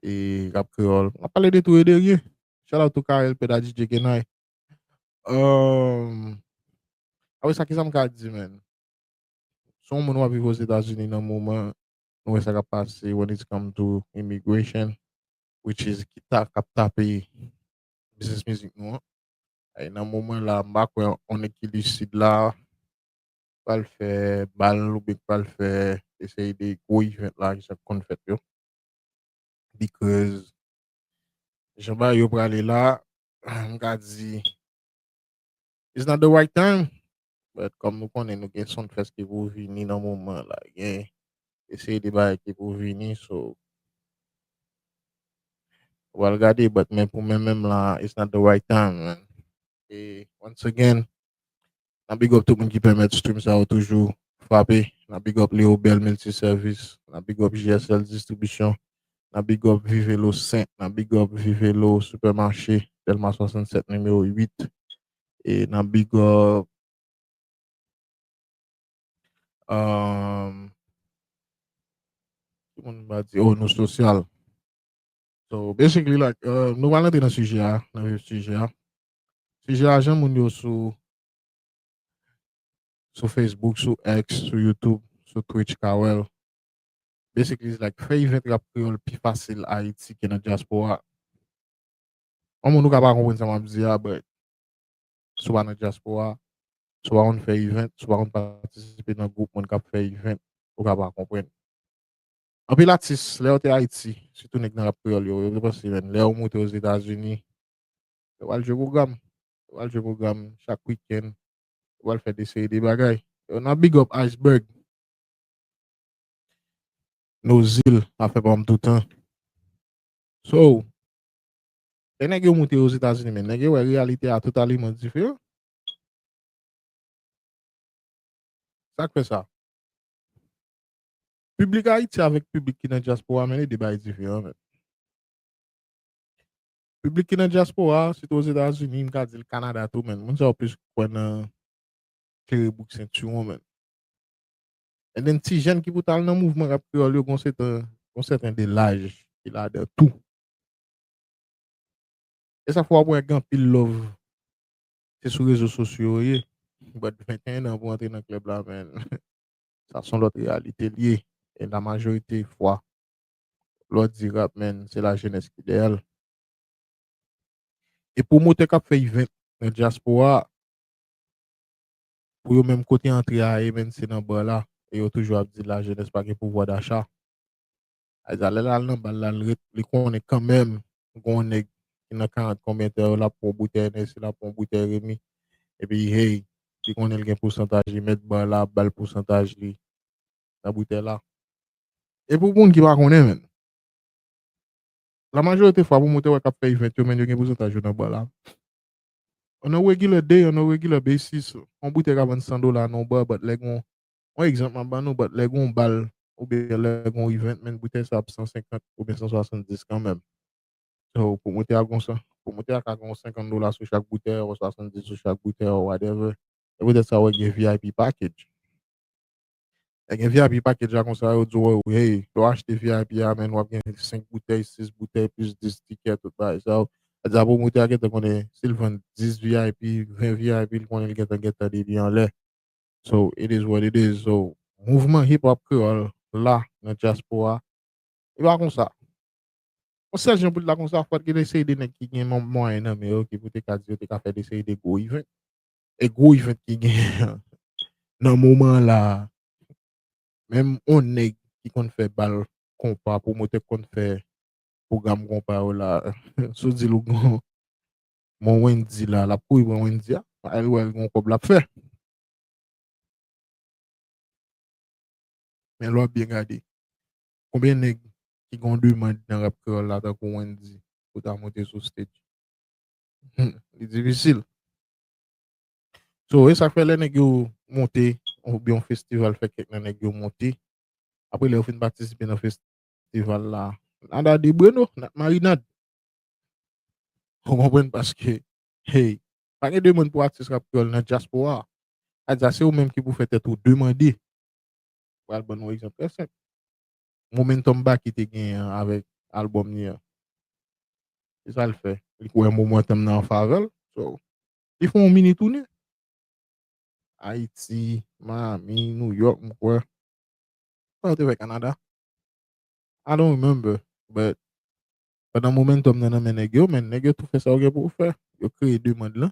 e rap kreyòl. Mwen ap pale de tou e de ryen. Shout out to Carel Peda DJ Genay. Um, apre sa, kisa m ka di men? Se yon moun wap viv Ozetazini nan moman, nou wè sa kap pase when it's come to immigration, which is ki ta kap tape biznis mizik nou an. E nan moman la, m pa kwè yon nèg ki lucide la, pral fè bal oubyen ki pral fè yon seri de gwo event la ki sa konn fèt yo because jan bagay yo prale la m ka di it's not the right time but kòm nou konnen nou gen Sunfest ki pou vini nan moman an la gen yon seri de bagay ki pou vini so nou pral gade but men pou mwen menm la it's not the right time man e once again Nap big up tout moun ki pèmèt stream sa yo toujou frape. Nap big up Leo Bell Multi Service. Nap big up JSL Distribution. Nap big up Vivelo 5. Nap big up Vivelo Supermarché Delma 67 Numéro 8. E nap big up Ki moun m pa di oh Nou Social. So basically like nou pral rantre nan sijè a, nan vif sijè a. Sijè lajan moun yo sou sou Facebook, sou X, sou YouTube, sou Twitch ka wè l. Basically it's like fè event rap kreyòl pi fasil Ayiti ke nan dyaspora. Yon moun ou ka pa konprann sa m ap di a but si w pa nan dyaspora, si w pa konn fè event, si w pa konn patisipe nan gwoup moun k ap fè event ou ka pa konprann. Anpil atis lè yo te Ayiti sitou nèg nan rap kreyòl yo, yo te panse menn lè yo moute Ozetazini Yo pral jwe pwogram. Yo pral jwe pwogram chak wikenn. Yo pral fè de seri de bagay. Yo nan big up Iceberg. Nozil ap fè pa m toutan. So, lè nèg yo moute Ozetazini men, nèg yo wè reyalite a totalement diferan. Sa k fè sa? Piblik Ayiti avèk piblik ki nan dyaspora men e de bagay diferan men. Piblik ki nan dyaspora, sitou Ozetazini, m ka di l Kanada tou men, moun sa yo plis kwè nan sere bouk sentiwon men. E menm ti jèn ki pou t al nan mouvman rap kreyòl yo gon sèten, gon sèten de laj ki ladan tou. E sa fè w ap wè gen anpil lòv se sou rezo sosyo yo ye. Bat 21 an pou w antre nan klèb la men sa s on lòt reyalite l ye e la majorite fwa Lò di rap menn se la jenès ki dèyè l. E pwomotè kap fè event nan dyaspora pou yo menm kote antre a ye menn se nan bar la e yo toujou ap di la jenès pa gen pouvwa dacha. Ayza lè l al nan bal la l ret li konnen kanmenm gen yon nèg ki nan 40 konbyen tan yo lap pran yon boutèy Hennessy lap pran yon boutèy Remy epi hey li konnen l gen pousantaj li mèt bar la ap bal pousantaj li nan boutèy la. E pou moun ki pa konnen menm, la majorite fwa pwomotè wè kap fè event yo menn yo gen pousantaj yo nan bar la. On a regular day, on a regular basis, on boutèy ka vann 100 dola nan on bar but lè gon, on egzanp map ban nou, but lè gon bal oubyen lè gon event menn boutèy sa ap 150 oubyen 170 kanmenm. So pwomotè a gon 100, pwomotè a ka gen on 50 dola sou chak boutèy or 70 sou chak boutèy or whatever. Se poutèt sa ou wè gen vip package. Lè gen vip package la konsa yo di w hey lè w achte vip a men wap gen 5 boutèy 6 boutèy plis 10 tikè tout bagay sa yo sa di a pwomotè a gentan konnen si l vann 10 vip 20 vip li konnen li gentan gen tande li anlè so it is what it is so mouvman hip hop kreyòl la nan dyaspora li pa konsa yon sèl jan pou l ta konsa fòk gen yon seri de nèg ki gen mwayen nan men yo ki pou te ka di yo te ka fè yon seri de gwo event e gwo event ki genyen nan moman la menm on nèg ki konn fè bal konpa pwomotè ki konn fè pwogram konpa yo la si w di l ou gen on Wendy la l ap kouri pran Wendy a paske l wè l gen on kòb l ap fè men lè w ap byen gade konbyen nèg ki gen on demand nan rap kreyòl la tankou Wendy pou ta monte sou stage li difisil So e sak fè lè nèg yo monte ou byen yon festival fè kèk nan nèg yo monte apre lè yo fin patisipe nan festival la nada de bueno nap marinad ou konprann paske hey pa gen demann pou atis rap kreyòl nan dyaspora adya se ou menm ki pou fè tèt ou demande pral ban nou egzanp trè senp momentum Baky te genyen an avèk album li an. Se sa l fè. Li kwè momentum nan an favè l. So, li fè yon mini toune. Ayiti, Miami, New York m kwè. Sa yo te fè Canada? I don't remember, but pandan momentum nan nan men nèg yo, men nèg yo tou fè sa yo gen pou yo fè. Yo kreye demand lan,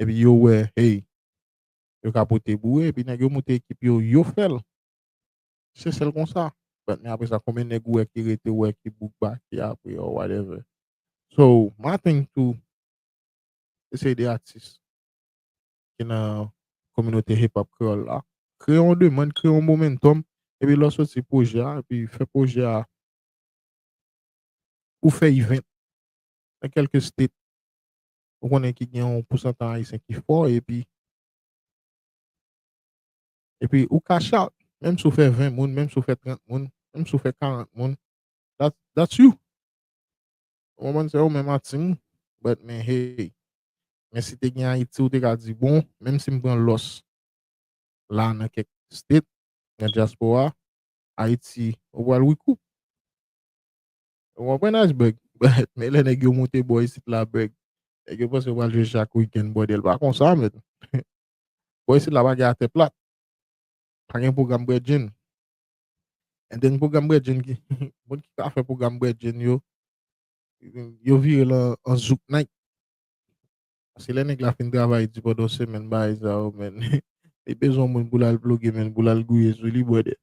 epi yo wè hey, yo ka pote boure, epi nèg yo moute ekip yo, yo fè l. Se sèl konsa. But men apresa konbyen nèg ou wè ki rete ou wè ki book baki apre or whatever. So my thing too eseye de atis ki nan kominote hip hop kreyòl la kreye yon demand, kreye yon momentum epi lè w soti pwojè a epi fè pwojè a ou fè event nan kèlke state ou konnen ki gen yon pousantaj ayisyen ki fò epi Epi ou cash out, menm si w fè 20 moun, menm si w fè 30 moun, menm si w fè 40 moun, that's you. Ou konprann se ou menm a team ou, but men hey, men si te gen Ayiti ou te ka di bon, menm si m pran lòs la nan kèk state, nan diaspora, Ayiti ou pral recoup. Ou konprann Iceberg? But men lè nèg yo moute bò isit la bèg, nèg yo panse yo pral jwe chak weekend bòdèl pa konsa menn. Bò isit la pa gen atè plat. Pa gen pwogram bredjenn. Gen dènye pwogram bredjenn ki moun ki ka fè pwogram bredjenn yo yo vire lan an zouk nayt. Se lè nèg la fin travay di pandan yon semèn bagay sa yo men li bezwen yon moun pou l al ploge men l pou l al gouye sou li bwè dèt.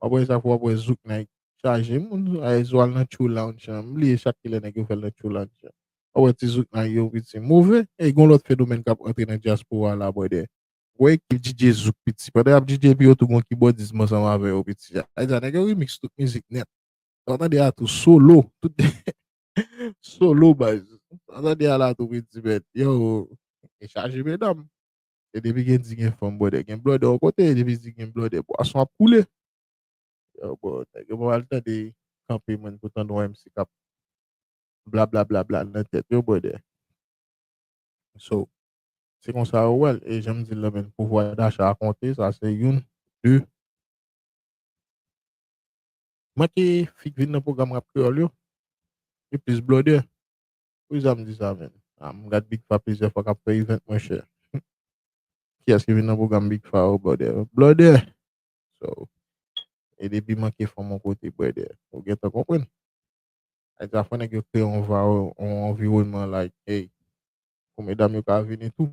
Wap wè sa pou wap wè zouk nèg chaje moun ayy zwal nan tchou lounge lan m bliye chak kilè nèg yo fèl nan tchou lounge lan wap wè ti zouk nèg yo piti move eyy gon lòt fenomèn kap antre nan dyaspora la brother. Wè ekip DJ Zouk piti pandan yap DJ epi yo tou gon kibòdizm ansanm avè yo piti a sa vle di a nèg yo remix tout mizik nèt sa wap tande a tou solo tout solo baz sa wap tande a la tou piti mèt yow e chaje medam. E depi gen di gen fanm bwòdè gen blòdè yon kote e depi di gen blòdè bwason ap koule. Yo bon nèg yo pa pral tande kanpe mwen pou tande yon MC kap blablablabla nan tèt yo bwòdè. So, se konsa yo wèl e janm di la menn pouvwa dacha a konte sa se youn, de. Manke fi k vin nan pwogram rap kreyòl yo, yo plis blòdè. Pou kisa m di sa menm? Ah m gad Big Fa plizyè fwa kap fè event mwen chè. Kiyès ki vin nan pwogram Big Fa oh brother? Blòdè! So, e depi manke fanm yon kote brother, ou gentan konprann. Ay sa fò nèg yo kreye yon yon anviwònman like hey, pou medam yo ka vini tou.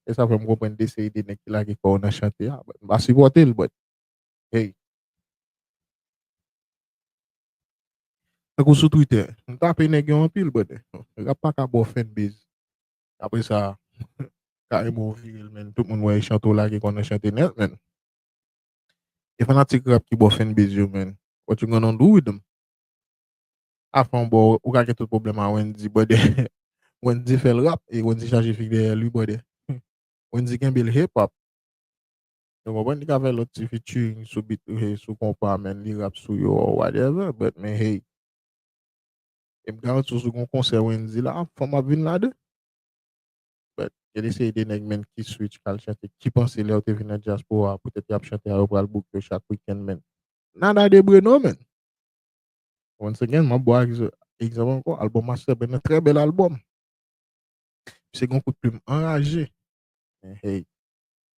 E sa fè m konprann de seri de nèg ki lage kò yo nan chante a, but m pa sipòte l but hey. Tankou sou Twitter. M tape nèg yo anpil brother. Rap pa ka ba w fanbase. Apre sa kareman w vire l menn. Tout moun wè e chante w lage kò nan chante nèt menn. E fanatik rap ki ba w fanbase yo menn. What you gonna do with them? Afè w ba w, ou ka gen tout pwoblèm a Wendy brother. Wendy fè l rap e Wendy chaje fig dèyè li brother. Wendy kenbe l hip hop. Nou konprann li ka fè lòt ti featuring sou beat sou konpa men li rap sou yo or whatever but men hey e m garanti w si gon konsè Wendyy la fanm ap vin ladan but gen de seri de nèg menn ki switch al chante ki panse lè yo te vin nan dyaspora poutèt y ap chante a yo pral book yo chak weekend menn nada de bry non menn once again m ap ba w egzanp ankò album Master Ben nan trè bèl album misye gen yon kout plim anraje men hey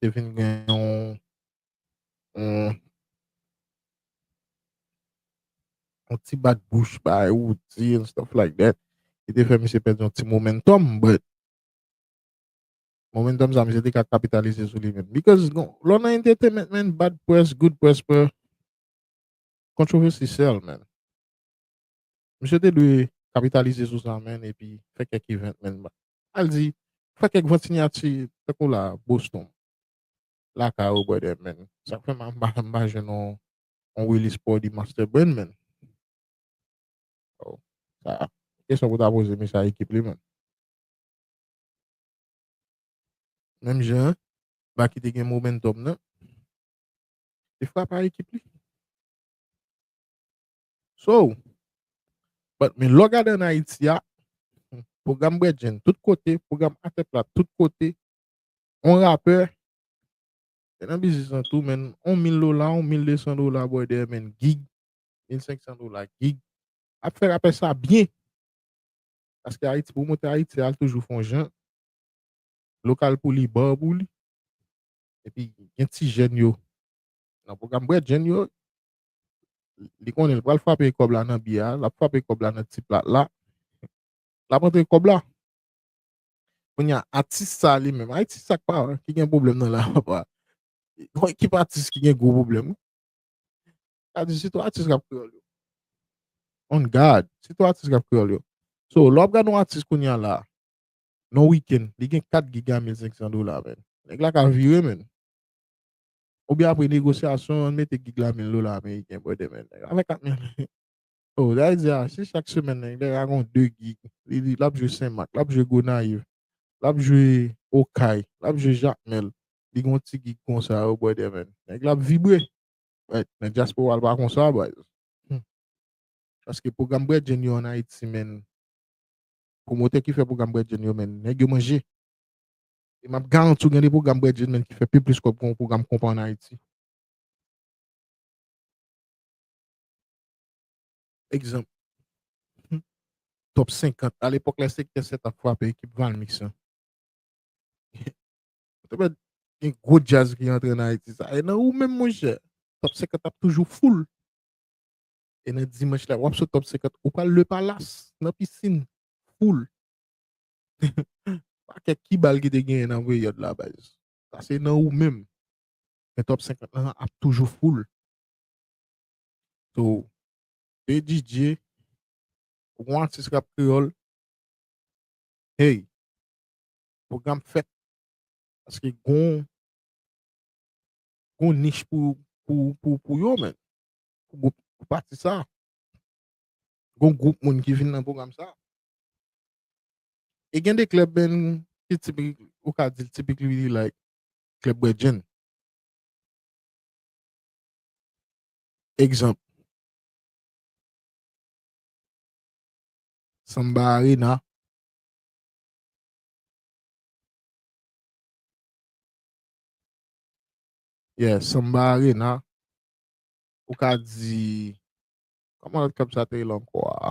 te vin gen yon yon ti bat bouch ba Roody and stuff like that ki te fè misye pèdi yon ti momentum but momentum sa misye te ka kapitalize sou li menm because lò nan entertainment man bad press good press bro controversy sell man misye te dwe kapitalize sou sa man epi fè kèk event man Al di, fè kèk vant sinyati tankou la Boston, lakay ou brother man. Sak fè m m pa jwenn yon release pou w di Master Brain man. Oh, sa a. Kesyon pou ta poze mesye a ekip li man. Menm jan Baky te gen momentum nan, li frap a ekip li. So, but men lè w gade an Ayiti a, pwogram bredjenn tout kote, pwogram atè plat tout kote, on rapè te nan biznis lan tou men on mil dola, on mil desan dola bòy dèyè men gig, mil senksan dola gig, ap fè rapè sa byen. Paske Ayiti, pwomotè Ayiti a toujou fon jan, lokal pou li, bar pou li, epi gen ti jèn yo nan pwogram bredjenn yo, li konnen li pral frape kòb la nan biyè a, l ap frape kòb la nan ti plat la, l ap antre kòb la. Kounye a, atis sa a li menm, atis sa pa ki gen pwoblèm nan la papa. Yon ekip atis ki gen gwo pwoblèm. Sa di sitou atis k ap kreyòl yo. On gad, sitou atis k ap kreyòl yo. So, lè w ap gade yon atis kounye a la, nan yon wikenn, li gen 4 giga 1500 dola menn. Nèg la ka vire menn. Oubyen apre negosyasyon an mete gig la 1000 dola ameriken bwè demen nèg la fè 4000 dola. Oh sa vle di a si chak semèn nèg la gon 2 gig li di lap jwe senmak lap jwe gonayiv lap jwe okay lap jwe jakmèl li gon ti gig konsa oh bwè demen nèg la ap vibre but nan dyaspora l pa konsa baz humm paske pwogram bredjenn yo an ayiti menn pwomotè ki fè pwogram bredjenn yo menn nèg yo manje. E map garanti w gen de pwogram Brad Gilman ki fè pi plis kòb ke yon pwogram konpa an Ayiti. Egzanp, Top 50, alepòk lè Sektè 7 ap frape ekip Valmix lan. Ou te wè gen gwo djaz ki rantre nan Ayiti sa. E nan ou menm monchè, Top 50 ap toujou full. E nan dimanch la, wap sou Top 50, ou pral Le Palace nan Piscine, full. Pa kèk ki bal ki te genyen nan peryòd la baz. Sa se nan ou menm. Men top 50 lan ap toujou full. So, BDJ, ou gon atis rap kreyòl, hey, pwogram fèt. Paske gon, gon nich pou, pou, pou, pou yo men. Pou pati sa. Gon gwoup moun ki vin nan pwogram sa. E gen de klèb menm ki tipik, ou ka di l tipik li li like klèb bwè djenn. Egzanp, Samba Arena, Yeah, Samba Arena, ou ka di, kòman lòt klèb sa te rele ankò a?